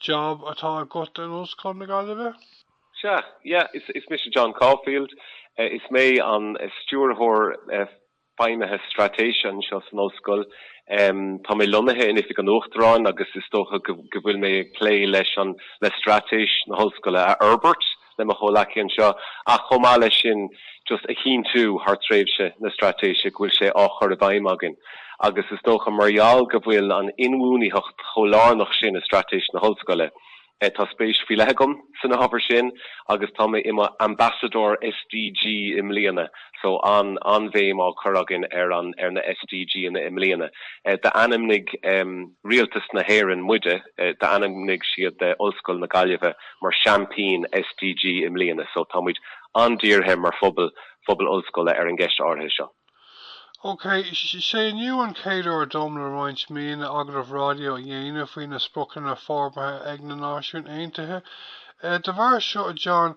Job atá agat in Ollscoil na Gaillimhe? Sea, yeah, is mise John Caulfield. Is mé an Stiúrthóir Feidhmithe Straitéise anseo san Ollscoil. Tá mé lonnaithe in Oifig an Uachtaráin agus is dócha go bhfuil mé ag plé leis an le straitéis na hOllscoile a fhorbairt, le mo chomhghleacaithe anseo, ach chomh maith leis sin just a chinntiú thar tréimhse na straitéise go bhfuil sé á chur i bhfeidhm againn agus is dócha mar gheall go bhfuil an inbhuanaitheacht chomh lárnach sin i straitéis na hollscoile, tá spéis faoi leith agam san ábhar sin agus tá mé i mo Ambassadóir SDG i mbliana so an-bhéim á cur againn ar na SDG-anna i mbliana. D'ainmnigh. Rialtas na hÉireann muide, d'ainmnigh siad Ollscoil na Gaillimhe mar Seaimpín SDG i mbliana so tá muid an-dírithe mar phobal, phobal ollscoile ar an gceist áirithe seo. OK, sé inniu an chéad uair dom le roinnt míonna agallamh raidió a dhéanamh faoi na Spriocanna Forbartha ag na Náisiúin Aontaithe. De bharr seo, a John,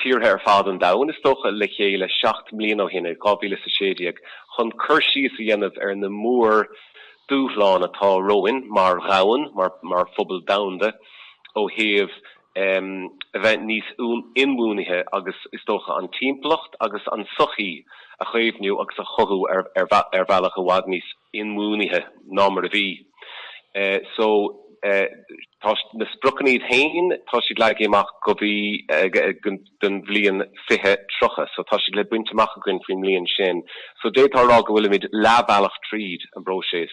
tíortha ar fad an domhain, is dócha, le chéile seacht mbliana ó shin, i 2016, chun cur síos a dhéanamh ar na mór dúshláin atá romhainn mar dhomhan, mar phobal domhanda, ó thaobh a bheith níos inbhuanaithe agus, is dócha, an timpeallacht agus an tsochaí a chaomhnú agus a chothú ar bhealach i bhfad níos. inbhuanaithe ná mar a bhí. So tá na spriocanna iad féin, tá siad leagtha amach go dtí an bhliain 2030. So tá siad le baint amach againn faoin mbliain sin. So d'fhéadfá a rá go bhfuilimid leath bhealach tríd an bpróiseas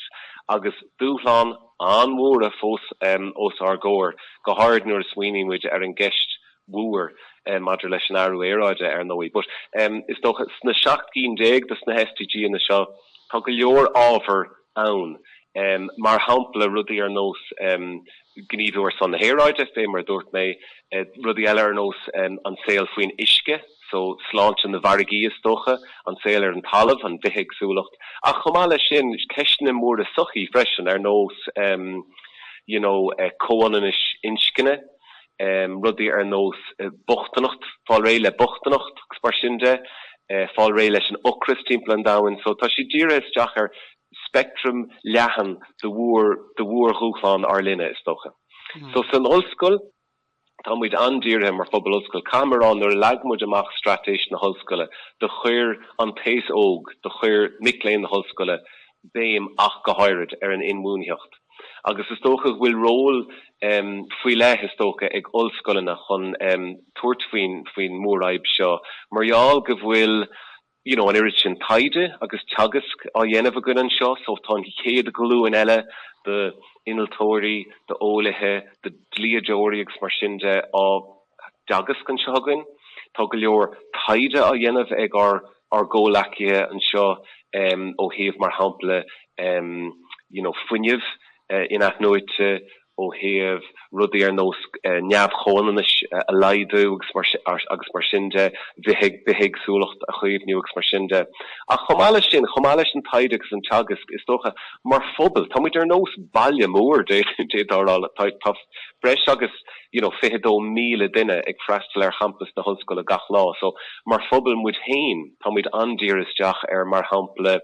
agus dúshláin an-mhóra fós os ár gcomhair, go háirid nuair a smaoinímid ar an gceist mhór maidir leis an athrú aeráide ar ndóigh, but is dócha sna seacht gcinn déag de na SDG-anna seo tá go leor ábhar ann mar shampla rudaí ar nós gníomhú ar son na haeráide fé mar a dúirt mé, rudaí eile ar nós an saol faoin uisce, so sláinte na bhfarraigí is dócha, an saol ar an talamh, an bhithéagsúlacht ach chomh maith leis sin ceisteanna móra sochaí freisin ar nós you know comhionannais inscne, rudaí ar nós bochtaineacht, fáil réidh le bochtaineacht agus mar sin de, fáil réidh leis an ocras timpeall an domhain. So tá siad dírithe isteach ar speictream leathan de mhór, de mhór-dhúshláin ár linne, is dócha. So san ollscoil, tá muid an-dírithe mar phobal ollscoile, caithfidh mé a rá, nuair a leag muid amach straitéis na hollscoile, do chuir an t-aos óg, do chuir mic léinn na hollscoile béim ach go háirid ar an inbhuanaitheacht. Agus is dócha go bhfuil ról faoi leith, is dócha, ag ollscoileanna chun tabhairt faoin mhórfhadhb seo mar gheall go bhfuil you know an oiread sin taighde agus teagasc á dhéanamh againn anseo so tá an chéad ghlúin eile d'innealtóirí, d'eolaithe, de dhlíodóirí agus mar sin de á dteagasc anseo againn. Tá go leor taighde á dhéanamh ag ár gcomhleacaithe anseo ó thaobh, mar shampla, you know fuinneamh in-athnuaite, ó thaobh rudaí ar nós neamh-chomhionannais a laghdú agus mar sin de, bithéagsúlacht a chaomhnú agus mar sin de. Ach chomh maith leis sin, chomh maith leis an taighde agus an teagasc, is dócha, mar phobal, táimid ar nós baile mór, d'fhéadfá a rá. Tá breis agus. you know 22,000 duine ag freastal ar champas na hollscoile gach lá so mar phobal muid féin tá muid an-dírithe isteach ar mar shampla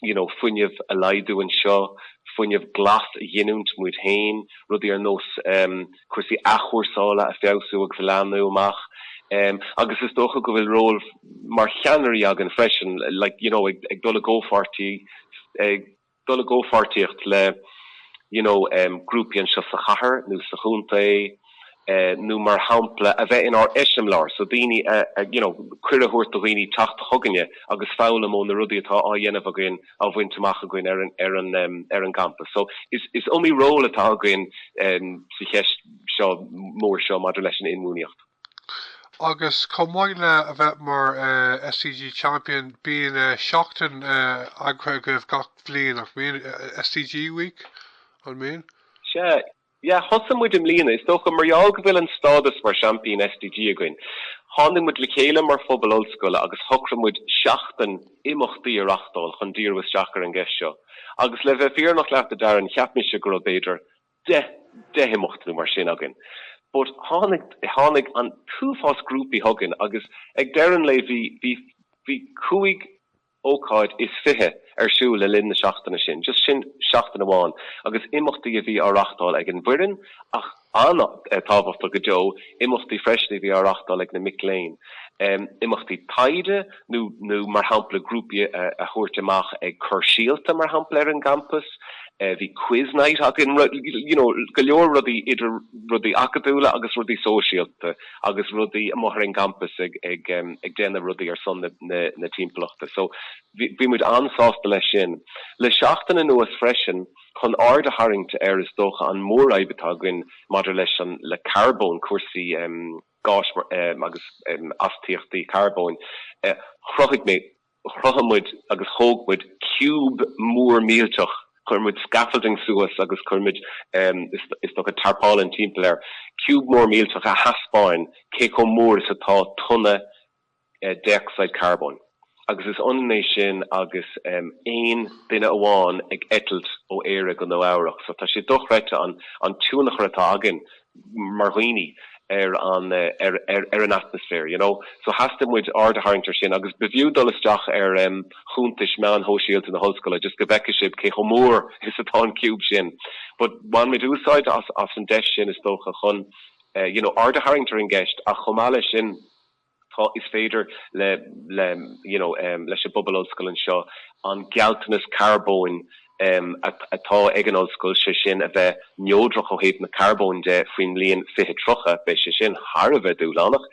you know fuinneamh a laghdú anseo, fuinneamh glas a ghiniúint muid féin, rudaí ar nós em cúrsaí athchúrsála a fheabhsú agus a leathnú amach em agus is dócha go bhfuil ról mar cheannairí againn freisin like you know ag dul i gcomhpháirtí ag dul i gcomhpháirtíocht le you know grúpaí anseo sa chathair nó sa chontae nó mar shampla a bheith inár eiseamláir so daoine a you know cuireadh a thabhairt do dhaoine teacht chugainne agus foghlaim ó na rudaí atá á dhéanamh againn á bhaint amach againn ar an ar an ar an gcampas so is is iomaí ról atá againn sa cheist seo mór seo maidir leis an inbhuanaitheacht. Agus chomh maith le a bheith mar SDG Champion, bíonn seachtain eagraithe agaibh gach bliain, nach mbíonn? SDG Week, an mbíonn? Sea. Yeah, thosaigh muid i mbliana. Is dócha mar gheall go bhfuil an stádas mar sheaimpín SDG againn, tháinig muid le chéile mar phobal ollscoile agus shocraigh muid seachtain imeachtaí a reáchtáil chun díriú isteach ar an gceist seo. Agus le bheith fírinneach leat, a Darren, cheap mise go raibh, b'fhéidir, dei- deich imeacht nó mar sin againn but tháinig, tháinig an t-uafás grúpaí chugainn agus ag deireadh an lae bhí, bhí, bhí cúig ócáid is fiche ar siúl le linn na seachtaine sin, just sin seachtain amháin agus imeachtaí a bhí á reáchtáil ag an bhfoireann ach an-tábhachtach go deo imeachtaí freisin a bhí á reáchtáil ag na mic léinn, imeachtaí taighde. nó mar shampla grúpaí a thabhairt amach ag cur síolta mar shampla ar an gcampas, bhí quiz night againn you know go leor rudaí idir rudaí acadúla agus rudaí sóisialta agus rudaí amuigh ar an gcampas ag ag ag déanamh rudaí ar son na na timpeallachta so bhí bhí muid an-sásta leis sin. Le seachtain anuas freisin chun aird a tharraingt ar is dócha an mhórfhadhb atá againn maidir leis an le carbón cúrsaí eh gáis agus astaíochtaí carbóin. Chruthaigh mé, chruthaigh muid agus thóg muid ciúb mór millteach, chuir muid scaffolding suas agus chuir muid, is dócha, tarpaulin timpeall air, ciúb mór millteach a thaispeánann cé chomh mór is atá tonna déocsaíd charbóin agus is ionann é sin agus aon duine amháin ag eitilt ó Éire go Nua Eabhrach. So tá sé dochreidte an tionchar atá againn mar dhaoine ar an atmaisféar, you know. So theastaigh muid aird a tharraingt ar sin agus ba fiú dul isteach ar chuntais meáin shóisialta na hollscoile just go bhfeicfidh sibh cé chomh mór is atá an ciúb sin but bhain muid úsáid as an deis sin is dócha chun you know aird a tharraingt ar an gceist ach chomh maith leis sin Tá, is féidir le, le, you know, leis an bpobal ollscoile anseo an gealltanas carbóin atá ag an ollscoil, sé sin a bheith neodrach ó thaobh na carbóin de faoin mbliain 2030, beidh sé sin thar a bheith dúshlánach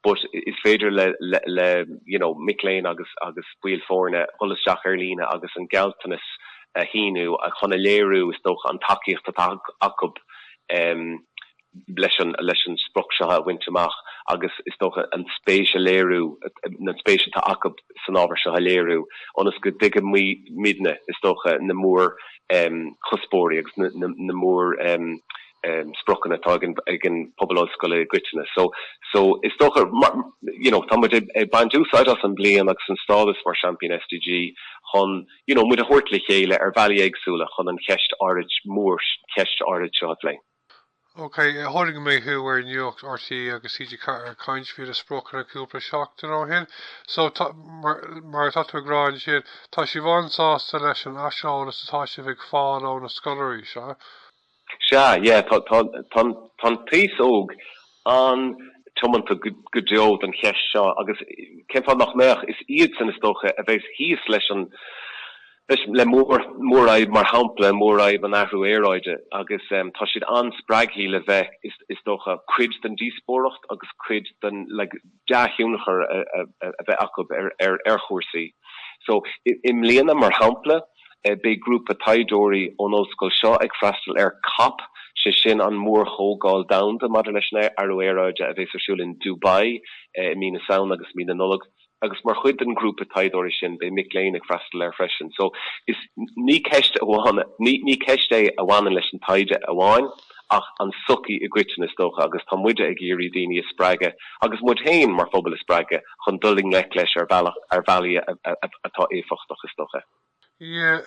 but is féidir le, le, you know, mic léinn agus, agus baill foirne dhul isteach ar líne agus an gealltanas a shíniú chun a léiriú is dócha an tacaíocht atá acu, em. leis, leis an sprioc seo a bhaint amach agus is dócha an spéis a léiriú, an spéis atá acu san ábhar seo a léiriú ionas go dtuigfimidne is dócha na mór chuspóirí agus na mór spriocanna atá ag an pobal ollscoile i gcoitinne. So so is dócha you know tá muid ag baint úsáid as an bliain agus an stádas mar Seaimpín SDG chun you know muid a thabhairt le chéile ar bhealaí éagsúla chun an cheist, an mhórcheist áirid seo a phlé. OK, chonaic mé thú ar nuacht RTÉ agus TG4 ag caint faoi na spriocanna cúpla seachtain ó shin, so, mar atá tú ag rá ansin, tá sibh an-sásta leis an aiseolas atá sibh ag fáil ó na scoláirí, sea? Sea, yeah, tá, tá an t-aos óg an-tiomanta go deo don cheist seo agus cén fáth nach mbeadh? Is iadsan, is dócha, a bheas thíos leis an, le mórfhadhb, mar shampla, mórfhadhb an athrú aeráide, agus tá siad an-spreagthaí le bheith, is dócha, cuid den díospóireacht agus cuid den. dea-thionchar a bheith acu ar chúrsaí. So, i mbliana, mar shampla, beidh grúpa taighdeoirí ón ollscoil seo ag freastal ar COP, sé sin an mórchomhdháil domhanda maidir leis an athrú aeráide a bheas ar siúl in Dubai i mí na Samhna agus mí na Nollag agus mar chuid den ghrúpa taighdeoirí sin beidh mic léinn ag freastal air freisin. So, is, ní ceist amháin, ní ceist é a bhaineann leis an taighde amháin. ach an tsochaí i gcoitinne is dócha agus tá muide ag iarraidh daoine a spreagadh agus muid féin mar phobal a spreagadh chun dul i ngleic leis ar bhealach, ar bhealaí atá éifeachtach is dócha. Yeah,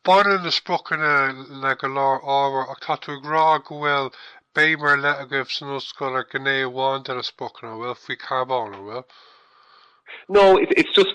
baineann na spriocanna le go leor ábhar ach tá tú ag rá go bhfuil béim ar leith agaibh san ollscoil ar ghné amháin de na spriocanna, an bhfuil, faoi charbón, an bhfuil? No, it's just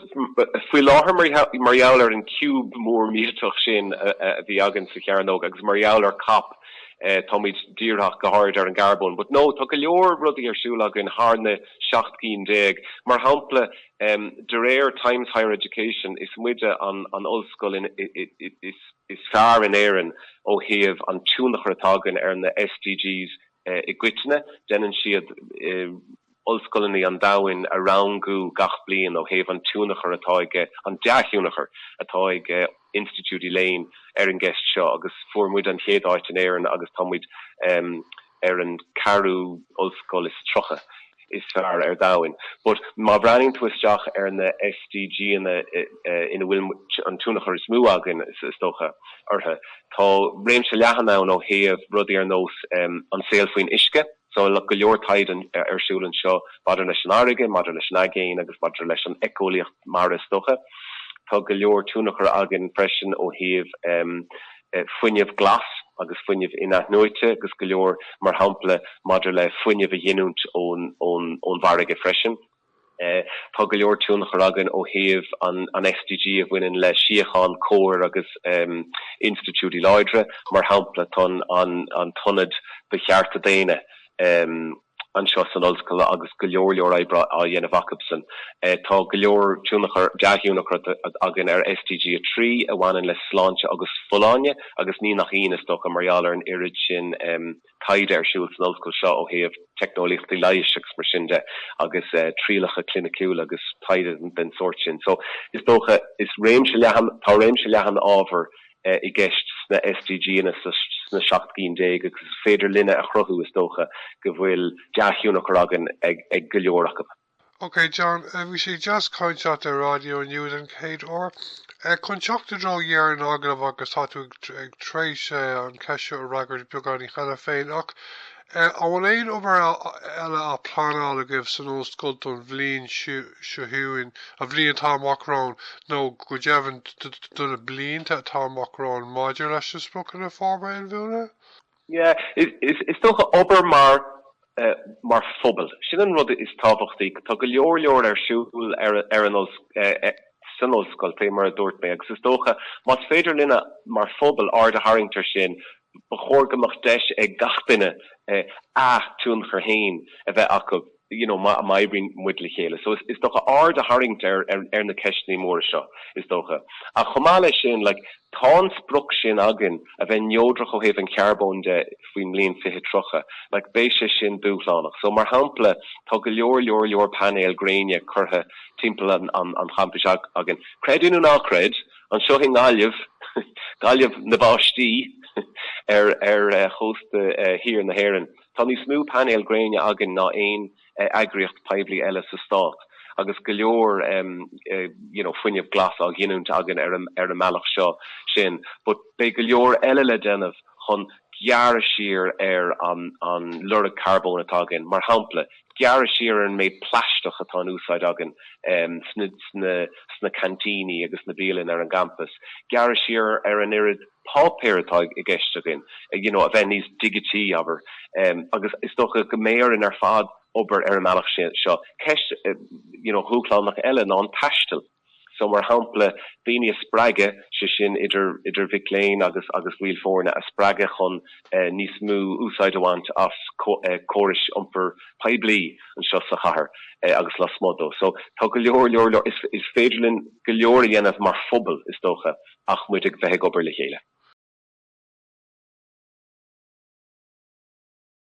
faoi láthair mar gheall ar an ciúb mór millteach sin a bhí againn sa chearnóg agus mar gheall ar COP táimid dírithe go háirid ar an gcarbón but no tá go leor rudaí ar siúl againn thar na seacht gcinn déag mar shampla de réir Times Higher Education is muide an an ollscoil is is fearr in Éirinn ó thaobh an tionchar atá againn ar na SDGs i gcoitinne déanann siad ollscoileanna an domhain a rangú gach bliain ó thaobh an tionchar atá ag, an dea-thionchar atá ag institiúidí léinn ar an gceist seo agus fuair muid an chéad áit in Éirinn agus tá muid ar an ceathrú ollscoil is tríocha is fearr ar domhain. But má bhreathnaíonn tú isteach ar na SDG-anna ina bhfuil an tionchar is mó againn is dócha orthu, tá réimse leathan ann ó thaobh rudaí ar nós an saol faoin uisce, So go leor taighde ar siúl anseo maidir leis an bhfarraige, maidir leis an aigéan agus maidir leis an éiceolaíocht mara is dócha. Tá go leor tionchar againn freisin ó thaobh fuinneamh glas agus fuinneamh in-athnuaite agus go leor mar shampla maidir le fuinneamh a ghiniúint ón bhfarraige freisin. Tá go leor tionchar againn ó thaobh an SDG a bhaineann le síocháin, cóir agus institiúidí láidre. Mar shampla, tá an tIonad do Chearta Daonna anseo san Ollscoil agus go leor leor oibre á dhéanamh acusan. Tá go leor tionchar, dea-thionchar againn ar SDG a trí a bhaineann le sláinte agus folláine agus ní nach ionadh, is dócha, mar gheall ar an oiread sin, taighde ar siúl san ollscoil seo ó thaobh teicneolaíochtaí leighis agus mar sin de agus trialacha cliniciúla agus taighde den sórt sin. So is dócha, is réimse leathan, tá réimse leathan ábhar i gceist sna SDGanna, sna seacht gcinn déag agus is féidir linne a chruthú, is dócha, go bhfuil dea-thionchar againn ar go leor acu. OK John, bhí sé deas caint leat ar Raidió Inniu den chéad uair. Chun teacht i dtreo dheireadh an agallaimh agus tá tú tar éis an cheist seo a fhreagairt beagáinín cheana féin ach an bhfuil aon obair eile á pleanáil agaibh san ollscoil don bhliain seo chugainn, an bhliain atá amach romhainn nó go deimhin do na blianta atá amach romhainn maidir leis na Spriocanna Forbartha Inbhuanaithe? Yeah, is dócha, obair mar, mar phobal, sin an rud is tábhachtaí. Tá go leor leor ar siúl ar, ar an, san ollscoil, fé mar a dúirt mé, agus is dócha, más féidir linne mar phobal aird a tharraingt ar sin, ba chóir go mbeadh deis ag gach duine a tionchar fhéin a bheith acu. you know má oibríonn muid le chéile. So is dócha aird a tharraingt ar na ceisteanna móra seo is dócha. Ach chomh maith leis sin like tá an sprioc sin againn a bheith neodrach ó thaobh an charbóin de faoin mbliain 2030. Like beidh sé sin dúshlánach. So mar shampla tá go leor leor leor painéil gréine curtha timpeall an champais againn. Creid é nó ná creid, anseo i nGaillimh, Gaillimh na báistí, ar chósta thiar na hÉireann. Tá níos mó painéil gréine againn ná aon eagraíocht poiblí eile sa stát agus go leor you know fuinneamh glas á ghiniúint againn ar an mbealach seo sin but beidh go leor eile le déanamh chun gearradh siar ar an lorg carbóin atá againn, mar shampla gearradh siar ar an méid plaisteach atá in úsáid againn sna sna cantíní agus sna bialainn ar an gcampas, gearradh siar ar an oiread. páipéar atá i gceist againn, you know a bheith níos digití, abair, em agus is dócha go mbeidh orainn ar fad obair ar an mbealach sin, seo ceist you know dhúshlánach eile ná an taisteal so mar shampla daoine a spreagadh, sé sin idir, idir mhic léinn agus, agus baill foirne a spreagadh chun eh níos mó úsáid a bhaint as eh córais iompair poiblí anseo sa chathair eh agus lasmuigh dó so tá go leor, leor, leor, is féidir linn go leor a dhéanamh mar phobal is dócha. ach muid uilig a bheith ag obair le chéile.